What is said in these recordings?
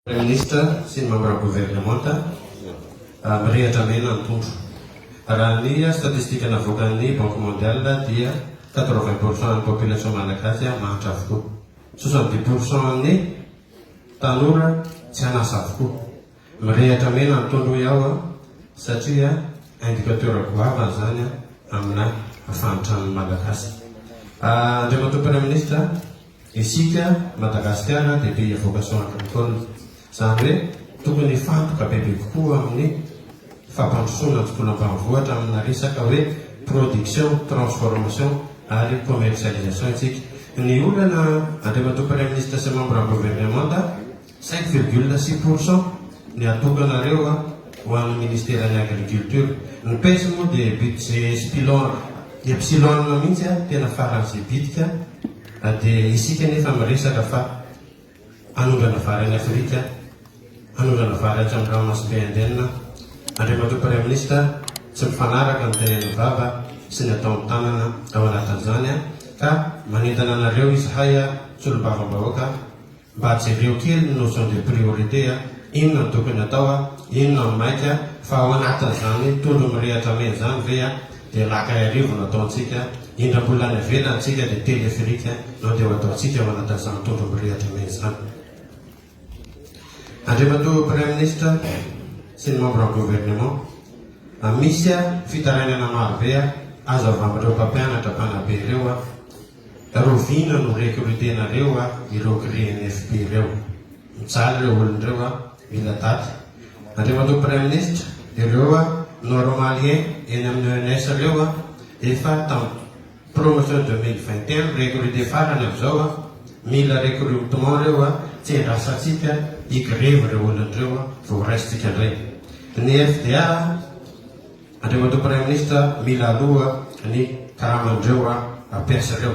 Praiminisitra sy ny mambra governemanta mirehatra mena ny tondro. Raha ny statistika navoakan'ny Banque Mondiale dia quatre vingt pour cent an'ny population malagasy mahantra avokoa. Soixante dix pour cent an'ny tanora tsy an'asa avokoa. Mirehatra mena ny tondro hoy aho satria indicateur goavana izany amina fahantràn'ny malagasy. Andriamatoa Praiminisitra, Isika Madagasikara dia pays à vocation agricole, izany hoe tokony hifantoka bebe kokoa amin'ny fampandrosoana an-tsekoly ambanivohitra amina resaka hoe production, transformation ary commercialisation isika. Ny olana, Andriamatoa Praiminisitra sy Mambran'ny Governemanta, Cinq virgule six pour cent ny atokanareo ho an'ny Ministeran'ny Agriculture. Ny pes moa dia budget epsilon, epsilon mihitsy an, tena faran'izay bitika an. Dia isika anefa miresaka fa hanondrana vary any Afrika, hanondrana vary hatrany ranomasimbe Indienne. Andriamatoa Praiminisitra, tsy mifanaraka ny tenen'ny vava sy ny ataon'ny tanana ao anatin'izany an, ka manentana anareo izahay an, Solombavambahoaka, Mba jereo kely ny notion de priorité a! Inona no tokony atao a! Inona no maika fa ao anatin'izany tondro mirehatra mena izany ve a! Dia laka iarivo no ataontsika, indra mbola any ivelany tsika dia téléphérique no dia ho ataontsika ao anatin'izany tondro mirehatra mena izany. Andriamatoa Praiminisitra sy ny Membres Gouvernement, a Misy a fitarainana maro be a azo avy amin'ireo mpampianatra mpanabe ireo a! Rovina no recrutenareo a ireo crenfp reo. Mijaly reo olon reo a. Mila daty. Andriamatoa Praiminisitra, ireo a normaliens eny amin'ny ENS reo a efa tam promotion deux mille vingt et un no recruter farany avizao a. Mila recrutement reo a. Tsy endrasantsika hi grevy reo olon reo a vao ho raisintsika ndray. Ny FDA a. Andriamatoa Praiminisitra mila aloha ny karaman'ireo ra mpiasa ireo.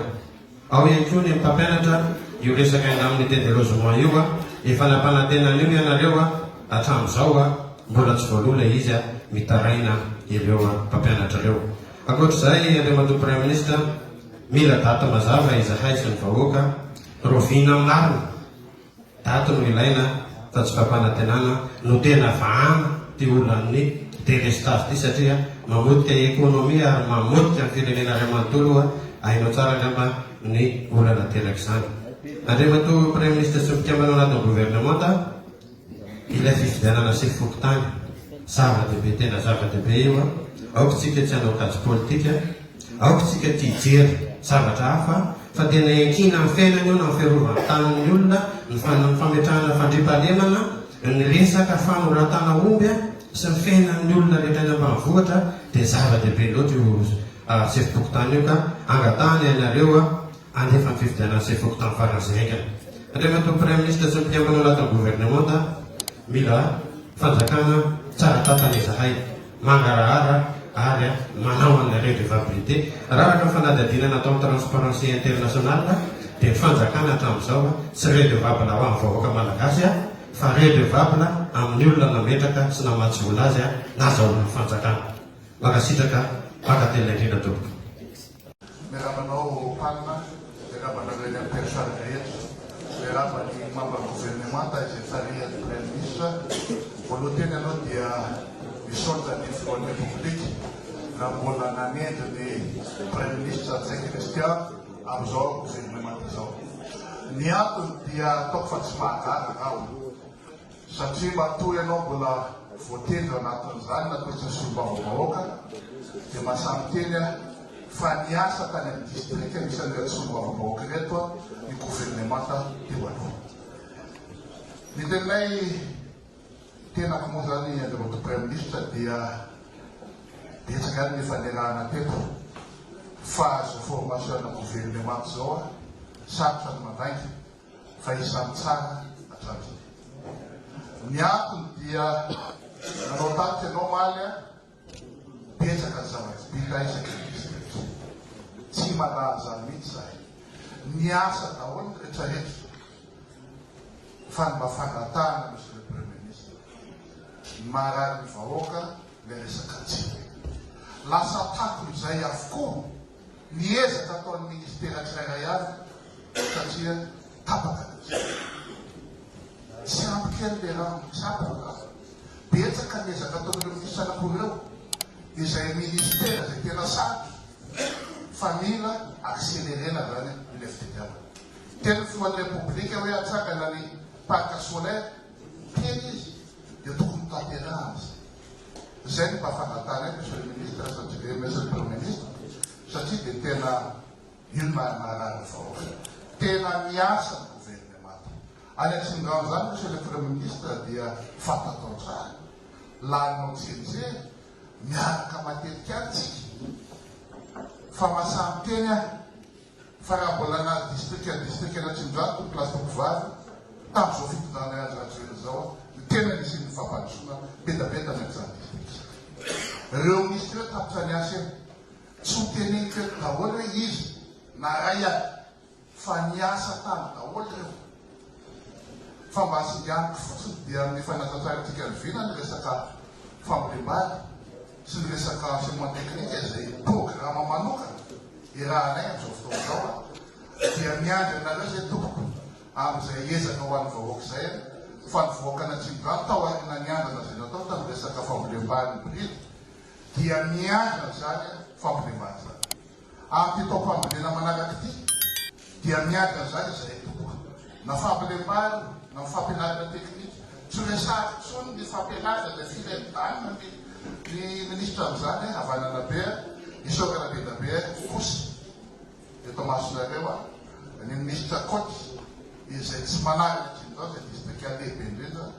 Ao ihany koa ny mpampianatra io resaka indram nité de logement io a, efa nampanantena an'io ianareo a, hatramin'izao a mbola tsy voaloa ilay izy a, mitaraina ireo mpampianatra ireo. Ankoatr'izay Andriamatoa Praiminisitra mila daty mazava izahay sy ny vahoaka, rovina marina. Daty no ilaina fa tsy fampanantenana no tena vahana ty olan'ny delestage ty satria mamotika economie ary mamotika ny firenena ray manontolo oa hainao tsara angamba ny olana aterak'izany. Andriamatoa Praiminisitra sy mpikambana anatin'ny governemanta ilay fifidianana sy fokontany zava-dehibe tena zava-dehibe io a! aoka tsika tsy hanao kajy politika Aoka isika tsy hijery zavatra hafa fa tena iankiana amin'ny fiainana io na amin'ny fiarovany tanin'ny olona ny fametrahana fandriampahalemana, ny resaka fanoratana omby sy ny fiainan'ny olona rehetra any ambanivohitra dia zava-dehibe loatra io sefom-pokontany io ka angatahana ianareo Alefa ny fifidianana sy efa okotany farany izay haingana. Alefa toa praiminisitra sy ny mpikambana anatin'ny governemanta. Mila fanjakana tsara tantana izahay. Mangarahara ary manao an'ilay redevabilite. Raraka ny fanadihadiana nataon'ny Transparency International dia ny fanjakana hatramin'izao tsy redevable ho an'ny vahoaka malagasy fa redevable amin'ny olona nametraka sy namatsy vola azy nazahoana ny fanjakana. Mankasitraka mpakatelina indrindra tompoko. Miarahaba anao Palma, miarahaba anareo eny amin'ny mpiasany rehetra, miarahaba ny membre gouvernemanta izay tarihan'ny Praiminisitra. Voaloha teny aloha dia misaotra ny Filohan'ny Repoblika raha mbola nanendry ny Praiminisitra Ntsay Christian amin'izao gouvernemanta izao. Ny antony dia ataoko fa tsy mahagaga aho. Satria matoa ianao mbola voatendry anatin'izany na toetra solombavambahoaka dia maha samy miteny aho fa niasa tany amin'ny distrika anisan'ny ireto solombavambahoaka ireto ny governemanta teo aloha. Ny teninay tenako moa izany Andriamatoa Praiminisitra dia betsaka ihany ny efa niarahana teto fa izao formation-na governemanta izao aho sarotra ny mandainga. fa isan'ny tsara hatramin'izay. Ny antony dia nanao tatitra ianao omaly an! Betsaka ny zava-tsy vita isaky ny distrika. Tsy mandalo izany mihitsy izahay. Niasa daholo ny rehetrarehetra fa ny mba fangatahana Monsieur le Premier Ministre, ny mahararin'ny vahoaka ilay resaka tsena. Lasa takona izay avokoa. ny ezaka ataon'ny Ministera tsirairay avy satria tapaka ny ezaka. Tsy ampy kely le rano mitsabo angamba. Betsaka ny ezaka ataon'ireo Minisitra anankiroa ireo izay Ministera izay tena sarotra fa mila accélérer-na izany ilay fididianana. Teny ny Filohan'ny Repoblika hoe hatsangana ny Parc solaire, teny izy dia tokony tanterahana izay. Izay no mba fangatahana eto Monsieur le Ministre satria dia Monsieur le Premier Ministre satria dia tena io no maha marary ny vahoaka. Tena miasa ny Gouvernemanta. Any Atsimondrano izany Monsieur le Premier Ministre dia fantatrao tsara. Laninao tserijery, miaraka matetika any tsika. Fa maha samy teny aho. Fa raha mbola na distrika distrika na tsinondrano tompoko lahy sy tompoko vavy tamin'izao fitondrana Andry Rajoelina izao no tena nisian'ny fampandrosoana betaveta na izany distrika reo minisitra reo tapitra ny asa eny tsy ho teneniko eto daholo hoe iza na ray aza fa niasa tany daholo reo Fa mba singaniko fotsiny dia amin'ny efa natantarantsika avy ela ny resaka fambolem-bary sy ny resaka enseignement technique izay programa manokana irahanay amin'izao fotoana izao an! dia miandry anareo izay tompoko amin'izay ezaka ho an'ny vahoaka izay an! fa ny vahoakan'Atsimondrano tao aoriana niandana izay natao tamin'ny resaka fambolem-bary ny Bril dia miandry an'izany fambolem-bary izany. Amin'ity taom-panorenana manaraka ity dia miady an'izany izahay tokoa, na fambolem-bary na fampianarana teknika. Tsy resahako intsony ny fampianarana izay firy any Dago ny minisitra amin'izany hoe havanana be a! Isaora Rabedabe kosa eto masonareo a! ny minisitra Koty izay tsy manarina hatrin'izao izay distrika lehibe indrindra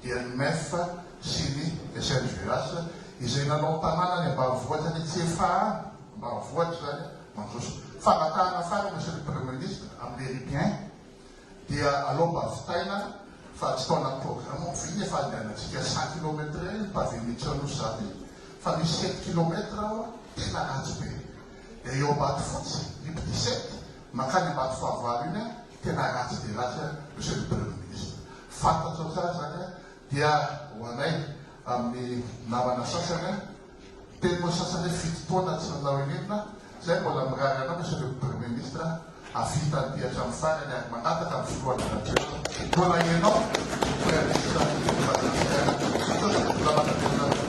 dia ny MEF sy ny SNGAS izay nanao tanàna any ambanivohitra ny CFA any ambanivohitra izany mandroso. Fangatahana farany Monsieur le Premier Ministre am les Libyens dia alao mba vitaina fa tsy tao anaty programme ao vy ny fandehanantsika cent kilomètre ny pavé mihitsy ao Nosy za dia fa misy sept kilomètre ao a tena ratsy be dia eo Ambatofotsy Liby dix-sept mankany Ambatofahavalo iny a tena ratsy dia ratsy an ry zareo premier ministre. Fantatrao tsara izany an, dia ho anay amin'ny namana sasany an, teny moa sasany hoe fito taona tsy nanao in'inona, izay mbola mirary anao ry zareo premier ministre hahavita an'ity hatramin'ny farany ary mangataka amin'ny filoha Andry Rajoelina mbola ianao no premier ministre eto Madagasikara. Misaotra, mbola manantenina anao.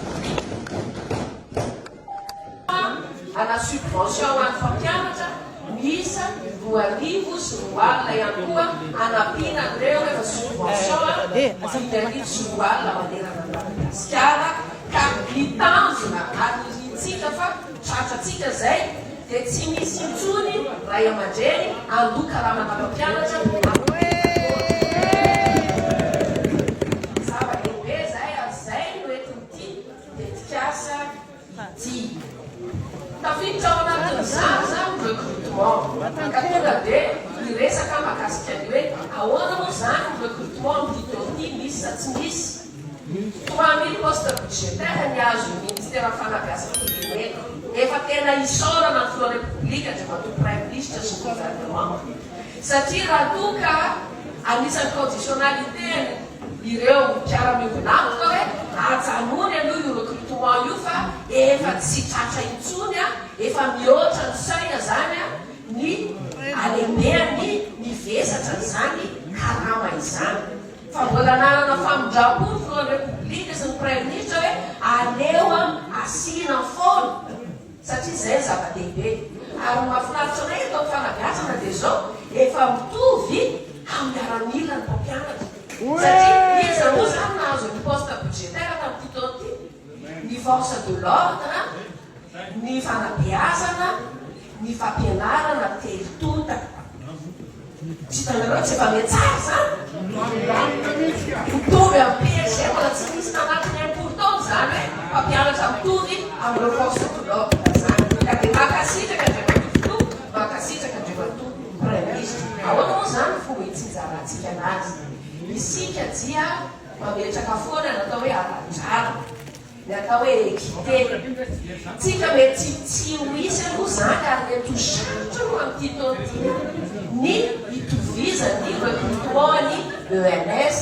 Manana subvention ho an'ny mpampianatra miisa roa arivo sy roa alina ihany koa hanampiana an'ireo efa subvention dimy arivo sy roa alina manerana ny Madagasikara ka ny tanjona ary ny hiantsika fa tratra antsika izay dia tsy misy intsony ray aman-dreny handoa karamana mpampianatra amin'ny tetikasa ity. Tafiditra ao anatin'izany izany ny recrutement, ka tonga dia niresaka aho mahakasika ny hoe ahoana moa izany ny recrutement amin'ity taona ity, misy sa tsy misy? Trois mille postes budgétaires ny azon'ny Ministeran'ny Fanabeazam-pirenena. Efa tena isaorana ny Filoha Repoblika, Andriamatoa Praiminisitra sy ny Gouvernement, satria raha toa ka anisan'ny conditionnalités-ny, Ireo mpiara-miombon'antoka hoe ajanony aloha io recrutement io fa efa tsy tratra intsony an, efa mihoatra ny seuil izany an, ny halehibehan'ny ny vesatra izany karama izany. Fa mbola nanana famindrampo ny filohan'ny Repoblika sy ny Praiminisitra hoe aleo an asiana foana. satria izay no zava-dehibe ary ny mahafinaritra anay eto amin'ny fanabeazana dia izao efa mitovy amin'ny miaramila ny mpampianatra satria iza moa izany nahazo ny poste budgétaire tamin'ity taona ity? ny force de l'ordre, ny fanabeazana, ny fampianarana telo tonta. Tsy hitanareo tsy efa mihatsara izany? Mitovy amin'ny PSG mbola tsy nisy nanatona impolo taona izany hoe mpampianatra mitovy amin'ireo force de l'ordre izany. Ka dia mankasitraka Andriamatoa Filoha, mankasitraka Andriamatoa Praiminisitra. Ahoana moa izany no fomba hitsinjarantsika anazy? Isika dia mametraka foana ny atao hoe ara-drariny. Ny atao hoe équité. Tsika mety tsy ho hisy aloha izany ary mety ho sarotra aloha amin'ity taona ity ny hitovizan' ny recrutement ny ENS,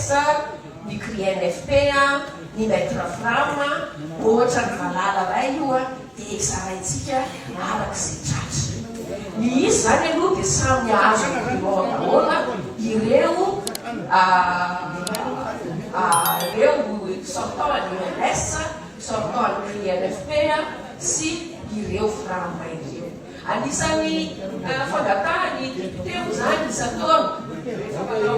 ny CRINFP, ny Maitre Fram, ohatra ny valala iray io a. dia hizaraintsika araka izay tratra. Ny izy izany aloha dia samy hahazo imprimeur daholo ireo ireo sortant an'ny OMS, sortant an'ny INFP sy ireo Frama ireo. Anisan'ny fangatahan'ny député moa izany isan-taona rehefa manao